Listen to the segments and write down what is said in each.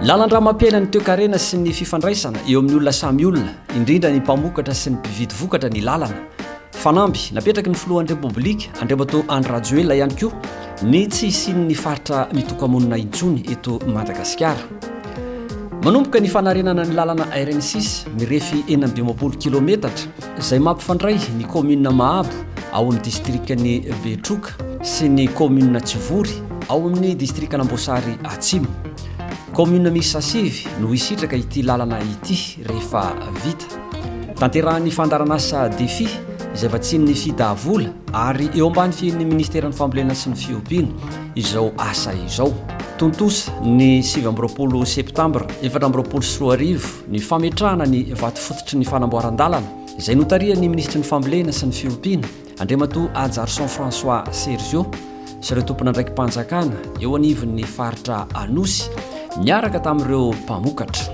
Lalandramampiaina ny toekarena sy ny fifandraisana eo amin'ny olona samy olona, indrindra ny mpamokatra sy ny mpividy vokatra ny lalana, Fanamby, napetraky ny filohan'ny Repoblika, Andriamatoa Andry Rajoelina ihany koa ny tsy hisian'ny faritra mitoka-monina intsony eto Madagasikara. Manomboka ny fanarenana ny lalana RN6 mirefy enina amby dimampolo kilometatra izay mampifandray ny kaominina Mahabo ao amin'ny distrikan'i Betroka sy ny kaominina Tsivory ao amin'ny distrikan'Amboasary Atsimo. Kaominina miisa sivy no hisitraka ity lalana ity rehefa vita. Tanterahan'ny fandaharanasa Defi, izay vatsian'ny Fida vola ary eo ambany fihian'ny Ministeran'ny Fambolena sy ny Fiompiana, izao asa izao. Tontosa ny sivy amby roapolo septambra efatra amby roapolo sy roa arivo ny fametrahana ny vato fototry ny fanamboaran-dalana, izay notarihan'ny Minisitry ny Fambolena sy ny Fiompiana, Andriamatoa Ajarson François Sergio sy ireo tompon'andraiki-panjakana eo anivon'ny faritra Anosy niaraka tamin'ireo mpamokatra.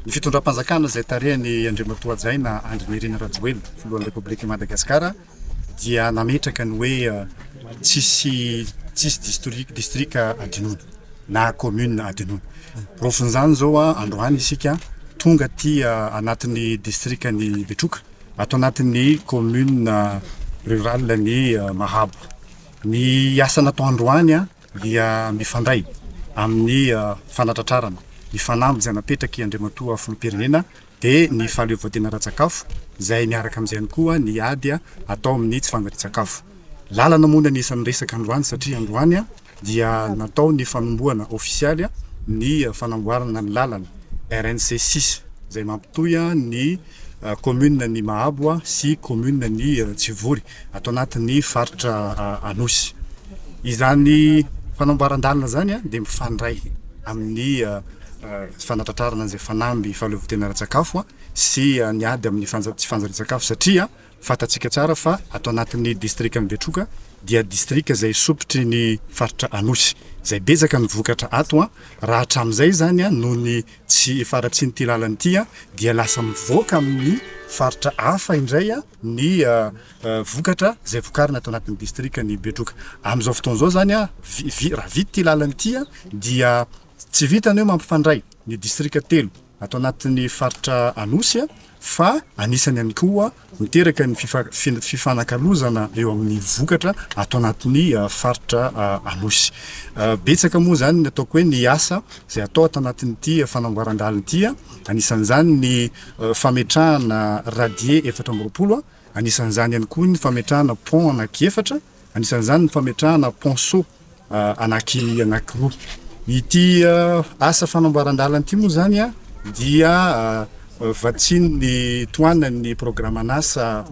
Ny fitondram-panjakana izay tarihan'i Andriamatoa Hajaina Andry Nirina Rajoelina, Filohan'ny Repoblikan'i Madagasikara, dia nametraka ny hoe tsisy tsisy distric distrika adinoina na commune adinoina. Porofon'izany izao androany isika tonga aty anatin'ny distrikan'i Betroka, ato anatin'ny commune rurale ny Mahabo. Ny asa natao androany dia mifandray amin'ny fanatratrarana ny fanamby izay napetrak'i Andriamatoa Filoham-pirenena dia ny fahaleovantena ara-tsakafo, izay miaraka amin'izay ihany koa ny ady atao amin'ny tsy fanjarian-tsakafo. Lalana moa ny anisan'ny resaka androany satria androany dia natao ny fanombohana ofisialy ny fanamboarana ny lalana RNC six izay mampitohy ny kaominina ny Mahabo sy kaominina ny Tsivory. ato anatin'ny faritra Anosy. Izany fanamboaran-dalana izany dia mifandray amin'ny fanatratrarana izay fanamby fahaleovantena ara-tsakafo sy ny ady amin'ny fanja- tsy fanjarian-tsakafo satria fantatsika tsara fa ato anatin'ny distrikan'i Betroka dia distrika izay sompitry ny faritra Anosy, izay betsaka ny vokatra ato an! raha hatramin'izay izany an! noho ny tsy faharatsian'ity lalana ity an! dia lasa mivoaka amin'ny faritra hafa indray an! ny vokatra izay vokarina ato anatin'ny distrikan'i Betroka. Amin'izao fotoana izao izany, raha vita ity lalana ity dia tsy vitan'ny hoe mampifandray ny distrika telo ato anatin'ny faritra Anosy fa anisany ihany koa miteraka ny fifanakalozana eo amin'ny vokatra ato anatin'ny faritra Anosy. Betsaka moa izany ny ataoko hoe ny asa izay atao ato anatin'ity fanamboaran-dalana ity, anisan'izany ny fametrahana radier efatra amby roapolo, anisan'izany ihany koa ny fametrahana pont anaky efatra, anisan'izany ny fametrahana ponceau anaky anaky roa. Ity asa fanamboaran-dalana ity moa izany dia vatsian'ny tohanan'ny programan'asa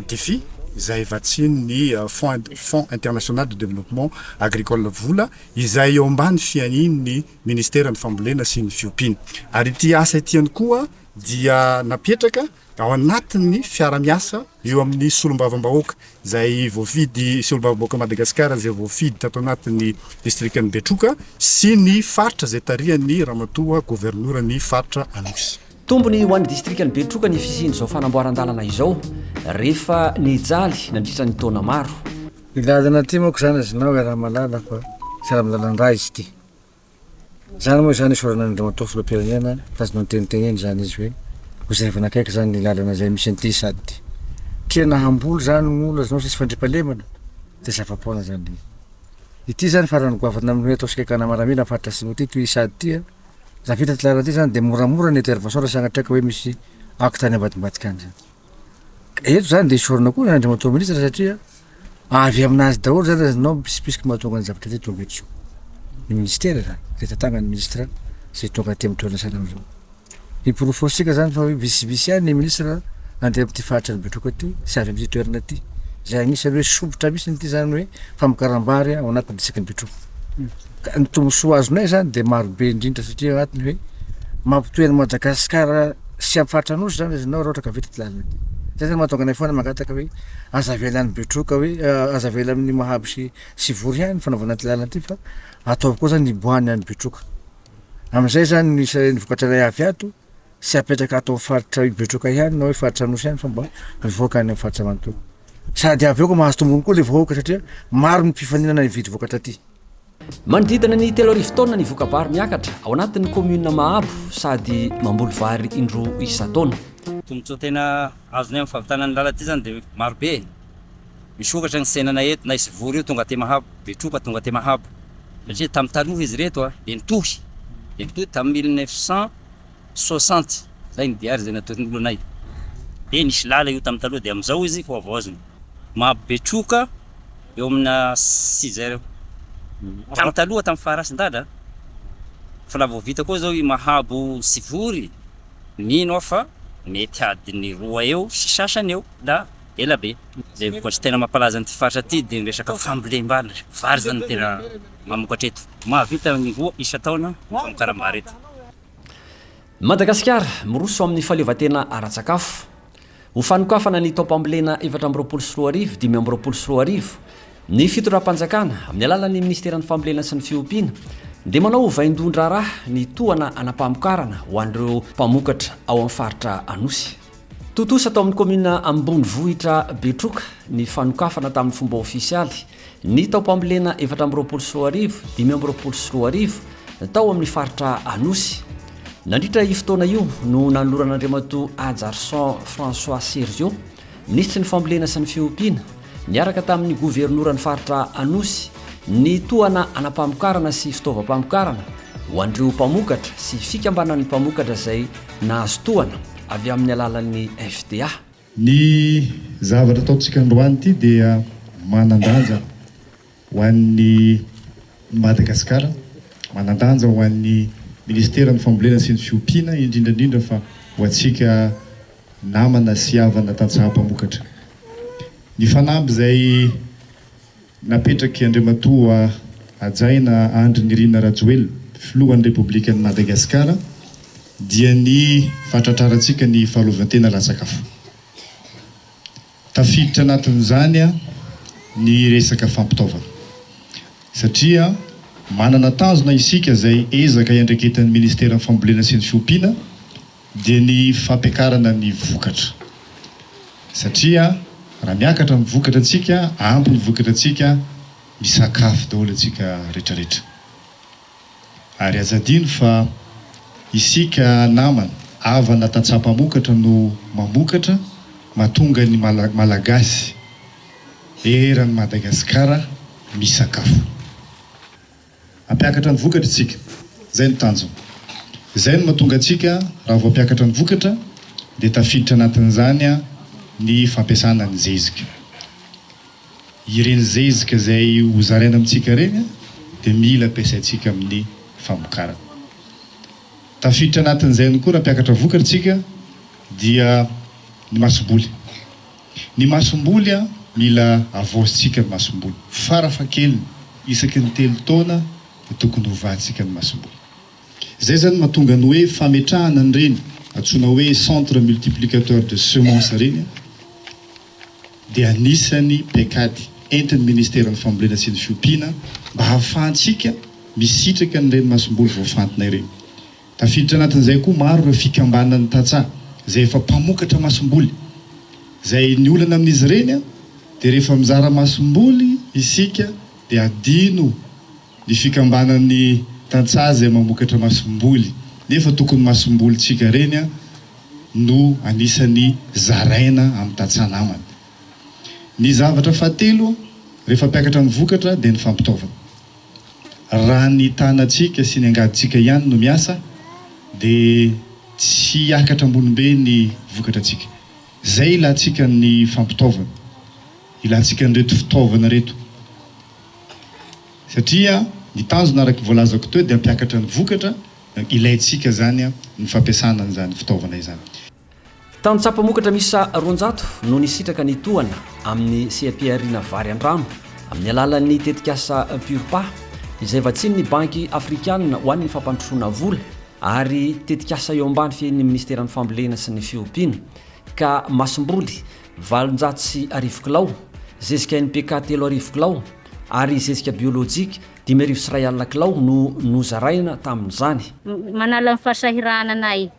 Defi, izay vatsian'ny Fonds Fonds International de Développement Agricole, vola izay eo ambany fiahian'ny Ministeran'ny Fambolena sy ny Fiompiana. Ary ity asa ity ihany koa dia napetraka ao anatin'ny fiara-miasa eo amin'ny Solombavambahoaka izay voafidy, Solombavambahoakan'i Madagasikara izay voafidy tato anatin'ny Distrikan'i Betroka sy ny Faritra izay tarihan'ny Ramatoa Governoran'ny Faritra Anosy. Tombony ho an'ny Distrikan'i Betroka ny fisian'izao fanamboaran-dalana izao rehefa nijaly nandritra ny taona maro. Ny lalana ity manko zany azonao iaraha-mahalala fa tsy ara-dalana indray izy ity. Izany moa izany isaorana an'Andriamatoa Filoham-pirenena, mitazona ny teniteneny izany izy hoe hozaivana akaiky izany ny lalana izay misy an'ity sady tiana hamboly izany ny olona izany sisy fandriampahalemana dia zava-poana izany. Ity izany farany goavana amin'ny hoe atao sikakana maramila ny faritra Atsimo ity, toy sady ity an, raha vita ity lalana ity izany dia moramora ny intervention raha sanatria ka hoe misy acte any ambadimbadika any izany. Eto zany dia esorina koa Andriamatoa Ministra satria avy aminazy daholo zany raha ianao mpitsipitsiky mahatonga ny zavatra ity tonga eto. Ny Ministera izany, izay tantanan'ny Ministra izay tonga aty amin'ny toerana sahirana izao. Hiporofoantsika zany fa hoe visivisy ihany ny Ministra andeha amin'ity faritry ny Betroka ity sy avy amin'ity toerana ity. Izay anisan'ny hoe sompitra misy ity zany hoe famokaram-bary ao anatin'ny distrikan'i Betroka. Ny tombontsoa azonay izany dia marobe indrindra satria ao anatiny hoe mampitohy an'i Madagasikara sy amin'ny faritra Anosy izany ianao raha ohatra ka vita ity lalana ity. Izay no mahatonga anay foana mangataka hoe aza avela any Betroka hoe aza avela amin'ny Mahabo sy sy Vory ihany ny fanaovana ity lalana ity fa ataovy koa izany hiboahany any Betroka. Amin'izay izany ny vokatra iray avy ato tsy apetraka ato amin'ny faritra Betroka ihany na hoe faritra Anosy ihany fa mba mivoaka any amin'ny faritra manontolo. Sady avy eo koa mahazo tombony koa ilay vahoaka satria maro ny mpifaninana hividy vokatra aty. Manodidina ny telo arivo taonina ny voka-bary miakatra ao anatin'ny kaominina Mahabo sady mamboly vary indroa isan-taona. Tombontsoa tena azony amin'ny fahavitana ny lalana aty izany dia maro be e. Misokatra ny tsenana eto, na i Sivory io tonga aty Mahabo, Betroka tonga aty Mahabo. Satria tamin'ny taloha izy ireto dia nitohy, dia nitohy tamin'ny mille neuf cent soixante zay ny diary zay natoron'olo anay de nisy lala io tamin'ny taloha de amizao izy hohavaozina mahabetroka eo amina six heures eo tamin'ny taloha tamin'ny faharasin-dada fa la vao vita koa zao i mahabo sy vory mino aho fa mety adiny roa eo sy sasany eo la ela be zay vokatry tena mampalaza an'ity faritra ty de ny resaka fambolem-bary vary zany tena mamokatra eto. Mahavita ny roa isan-taona ny famokaram-bary eto. I Madagasikara miroso amin'ny fahaleovantena ara-tsakafo. Ho fanokafana ny taom-pambolena efatra amby roapolo sy roa arivo, dimy amby roapolo sy roa arivo, ny fitondram-panjakana, amin'ny alalan'ny Ministeran'ny Fambolena sy ny Fiompiana, dia manao ho vaindohan-draharaha ny tohana hanam-pamokarana ho an'ireo mpamokatra ao amin'ny faritra Anosy. Tontosa tao amin'ny kaominina ambonivohitra Betroka ny fanokafana tamin'ny fomba ofisialy ny taom-pambolena efatra amby roapolo sy roa arivo, dimy amby roapolo sy roa arivo tao amin'ny faritra Anosy. Nandritra io fotoana io no nanoloran'Andriamatoa Hajarison François Sergio, minisitry ny Fambolena sy ny Fiompiana, niaraka tamin'ny governoran'ny faritra Anosy ny tohana anam-pamokarana sy fitaovam-pamokarana ho an'ireo mpamokatra sy fikambanan'ny mpamokatra izay nahazo tohana. avy amin'ny alalan'ny FDA. Ny zavatra ataontsika androany ity dia manan-danja ho an'ny Madagasikara, manan-danja ho an'ny Minisiteran'ny Fambolena sy ny Fiompiana, indrindra indrindra fa ho antsika namana sy havana tantsaha mpamokatra. Ny fanamby izay. Napetrak'i Andriamatoa Hajaina Andry Nirina Rajoelina, Filohan'ny Repoblikan'i Madagasikara, dia ny fahatratrarantsika ny fahaleovantena latsak'afo. Tafiditra anatin'izany ny resaka fampitaovana, satria manana tanjona isika izay ezaka iandraiketan'ny Ministeran'ny Fambolena sy ny Fiompiana, dia ny fampiakarana ny vokatra satria raha miakatra ny vokatra antsika, ampy ny vokatra antsika, misakafo daholo antsika retraretra. Ary aza adino fa isika namana, havana tantsaha mpamokatra no mamokatra mahatonga ny Malagasy eran'i Madagasikara misakafo. Hampiakatra ny vokatra isika. Izay no tanjona. Izay no mahatonga antsika raha voampiakatra ny vokatra dia tafiditra anatin'izany ny fampiasana ny zezika. Ireny zezika izay ho zaraina amintsika ireny dia mila ampiasaintsika amin'ny famokarana. Tafiditra anatin'izay ihany koa raha mpiakatra vokatra isika dia ny masoboly. Ny masomboly an, mila avaozintsika ny masomboly. Farafahakeliny, isaky ny telo taona dia tokony hovantsika ny masomboly. Izay izany mahatonga ny hoe fametrahana an'ireny antsoina hoe centre multiplicateur de semences ireny dia anisan'ny paikady entin'ny Ministeran'ny Fambolena sy ny Fiompiana mba hahafahantsika misitraka an'ireny masomboly voafantina ireny. Tafiditra anatin'izay koa maro ireo fikambanan'ny tantsaha izay efa mpamokatra masomboly. Izay ny olana amin'izy ireny dia rehefa mizara masomboly isika dia adino ny fikambanan'ny tantsaha izay mamokatra masomboly nefa tokony masombolintsika ireny no anisan'ny zaraina amin'ny tantsaha namana. Ny zavatra fahatelo rehefa mpiakatra amin'ny vokatra dia ny fampitaovana. Raha ny tanantsika sy ny angadintsika ihany no miasa dia tsy hiakatra ambony be ny vokatratsika. Izay ilantsika ny fampitaovana, ilantsika an'ireto fitaovana ireto. Satria ny tanjona araka ny voalazako teo dia hampiakatra ny vokatra, ilaintsika izany ny fampiasana an'izany fitaovana izany. Tany Tsapamokatra miisa roanjato no nisitraka ny tohana amin'ny seha-pihariana vary an-drano amin'ny alalan'ny tetikasa Purpa izay vatsian'ny Banky Afrikana ho an'ny Fampandrosoana Vola ary tetikasa eo ambany fiahian'ny Ministeran'ny Fambolena sy ny Fiompiana ka masomboly valonjato sy arivo kilao, zezika NPK telo arivo kilao ary zezika biolojika dimy arivo sy iray alina kilao no nozaraina tamin'izany. Manala ny fahasahiranana ahy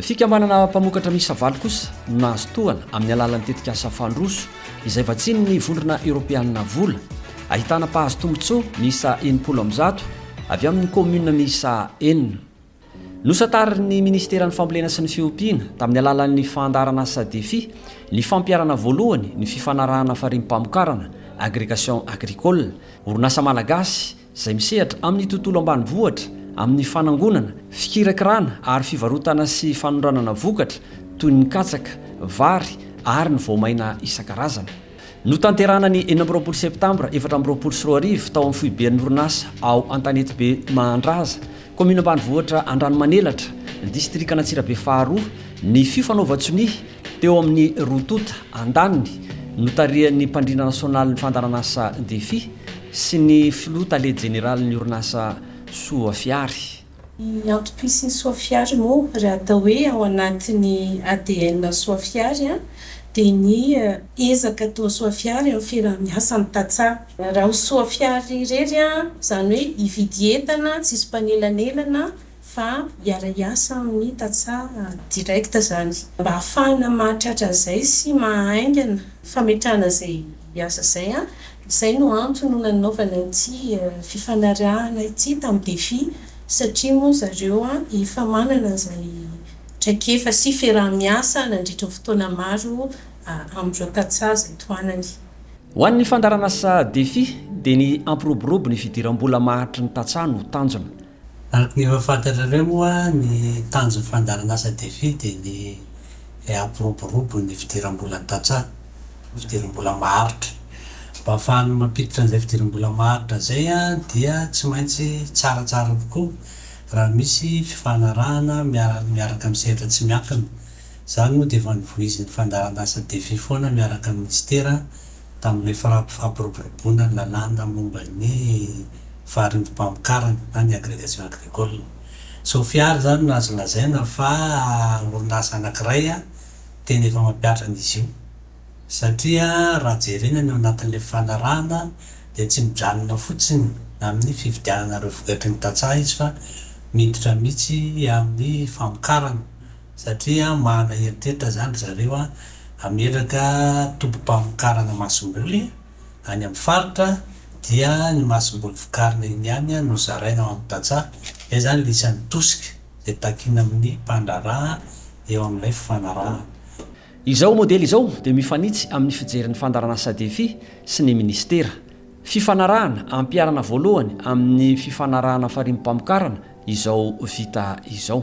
Fikambanana mpamokatra miisa valo kosa no nahazo tohana amin'ny alalan'ny tetikasa Fandroso izay vatsian'ny Vondrona Eoropeanina vola, ahitana mpahazo tombontsoa miisa enimpolo amby zato avy amin'ny kaominina miisa enina. Nosatarin'ny Minisiteran'ny Fambolena sy ny Fiompiana tamin'ny alalan'ny fandaharan'asa Defi ny fampiharana voalohany ny fifanarahana farimpamokarana, Agrégation Agricole, orinasa malagasy, izay misehatra amin'ny tontolo ambanivohitra, amin'ny fanangonana, fikirakirana ary fivarotana sy fanondranana vokatra toy ny katsaka, vary ary ny voamaina isan-karazany. Notanterahana ny enina amby roapolo Septambra efatra amby roapolo sy roa arivo tao amin'ny foiben'ny orinasa ao Antanetibe Mahandraza, kaominina ambanivohitra Andranomanelatra, distrikan'Antsirabe faharoa, ny fifanaovan-tsonia Teo amin'ny roa tonta andaniny, notarihan'ny mpandrindra nasionalin'ny fandaharanasa Defi sy ny filoha tale jeneralin'ny orinasa Soafiary, Ny antopisin'i Soafiary moa, raha atao hoe ao anatin'ny ADN Soafiary, dia ny ezaka atao Soafiary amin'ny fiaraha-miasa amin'ny tantsaha. Raha ho Soafiary irery, izany hoe hividy entana tsisy mpanelanelana, fa hiara-hiasa amin'ny tantsaha direct zany mba hahafahana mahatratra an'izay sy mahahaingana fametrahana izay asa izay an, izay no antony no nanaovana ity fifanarahana ity tamin'ny Defi satria moa zareo efa manana izay traikefa sy fiaraha-miasa nandritry ny fotoana maro amin'ireo tantsaha izay tohanany. Ho an'ny fandaharan'asa Defi dia ny hampiroborobo ny fidiram-bola maharitry ny tantsaha no tanjona. Araka ny efa fantatrareo moa, ny tanjon'ny fandaharan'asa Defi dia ny hampiroborobo ny fidiram-bolan'ny tantsaha, fidiram-bola maharitra. Mba hahafahana mampiditra an'izay fidiram-bola maharitra izay dia tsy maintsy tsaratsara kokoa raha misy fifanarahana miaraka amin'ny sehatra tsy miankina. Izany moa dia efa novoizin'ny fandaharan'asa Defi foana miaraka amin'ny minisitera. tamin'ilay fampiroboroboana ny lalàna momba ny faharindim-pamokarana na ny agrégation agricole. Sofia ary izany no azo lazaina fa orinasa anankiray tena efa mampiatra an'izy io satria raha jerena ny ao anatin'ilay fifanarahana dia tsy mijanona fotsiny amin'ny fividianana ireo vokatry ny tantsaha izy fa miditra mihitsy amin'ny famokarana satria manana eritreritra izany ry zareo hametraka tobim-pamokarana masomboly any amin'ny faritra dia ny masomboly vokarina eny ihany no zaraina ao amin'ny tantsaha, izay izany no isan'ny tosika izay takina amin'ny mpandraharaha eo amin'ilay fifanarahana. Izao modely izao dia mifanitsy amin'ny fijerin'ny fandaharanasa Defi sy ny minisitera. Fifanarahana ampiharana voalohany amin'ny fifanarahana farimbpamokarana izao vita izao.